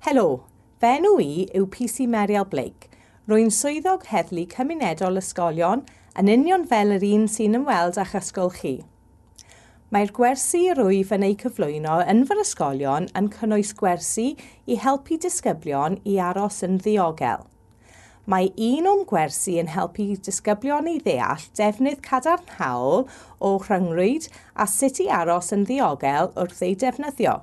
Helo, fy enw i yw PC Meriel Blake. Rwy'n swyddog heddlu cymunedol ysgolion yn union fel yr un sy'n ymweld â'ch ysgol chi. Mae'r gwersi rwyf yn eu cyflwyno yn fy ysgolion yn cynnwys gwersi i helpu disgyblion i aros yn ddiogel – Mae un o'm gwersi yn helpu disgyblion i ddeall defnydd cadarnhaol o rhyngrwyd a sut i aros yn ddiogel wrth ei defnyddio.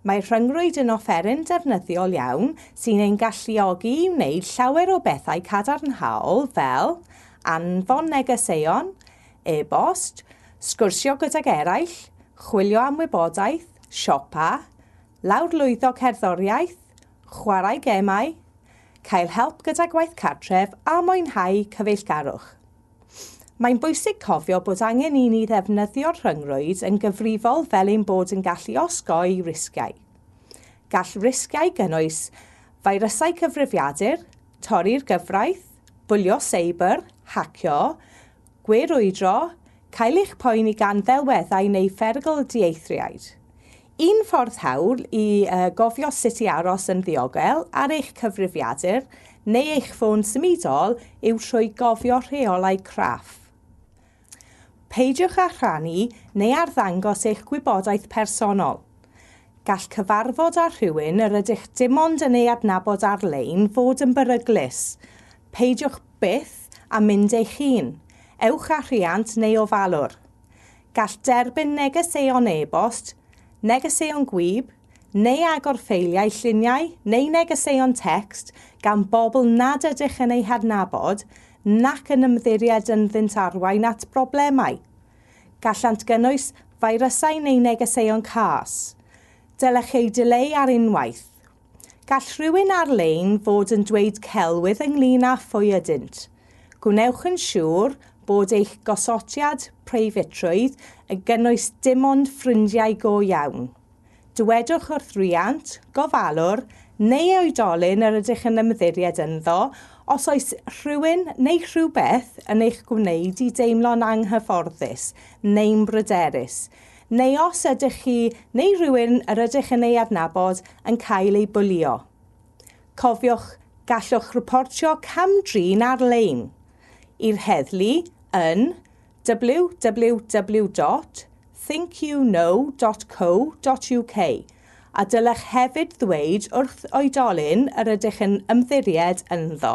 Mae rhyngrwyd yn offeryn defnyddiol iawn sy'n ein galluogi i wneud llawer o bethau cadarnhaol fel anfon negeseuon, e-bost, sgwrsio gydag eraill, chwilio am wybodaeth, siopa, lawrlwytho cerddoriaeth, chwarae gemau, cael help gyda gwaith cartref a mwynhau cyfeillgarwch. Mae'n bwysig cofio bod angen i ni ddefnyddio'r rhyngrwyd yn gyfrifol fel ein bod yn gallu osgoi risgiau. Gall risgiau gynnwys feirysau cyfrifiadur, torri'r gyfraith, bwlio seibr, hacio, gwe-rwydro, cael eich poeni gan ddelweddau neu pherygl dieithriaid. Un ffordd hawdd i gofio sut i aros yn ddiogel ar eich cyfrifiadur neu eich ffôn symudol yw trwy gofio rheolau craff. Peidiwch â rhannu neu arddangos eich gwybodaeth personol. Gall cyfarfod â rhywun yr ydych dim ond yn ei adnabod ar-lein fod yn beryglus. Peidiwch byth â mynd eich hun, ewch â rhiant neu ofalwr. Gall derbyn negeseuon e-bost, negeseuon gwyb, neu agor ffeiliau lluniau neu negeseuon tecst gan bobl nad ydych yn eu hadnabod nac yn ymddiried ynddynt arwain at broblemau. Gallant gynnwys feirysau neu negeseuon cas. Dylech eu dileu ar unwaith. Gall rhywun ar-lein fod yn dweud celwydd ynglŷn â phwy ydynt. Gwnewch yn siŵr bod eich gosodiad preifatrwydd yn gynnwys dim ond ffrindiau go iawn. Dywedwch wrth riant, gofalwr, neu oedolyn yr ydych yn ymddiried ynddo os oes rhywun neu rhywbeth yn eich gwneud i deimlo'n anghyfforddus neu'n bryderus. Neu os ydych chi neu rywun yr ydych yn ei adnabod yn cael ei bwlio. Cofiwch, gallwch reportio cam-drin ar-lein i'r heddlu yn www.thinkyouknow.co.uk a dylech hefyd ddweud wrth oedolyn yr ydych yn ymddiried ynddo.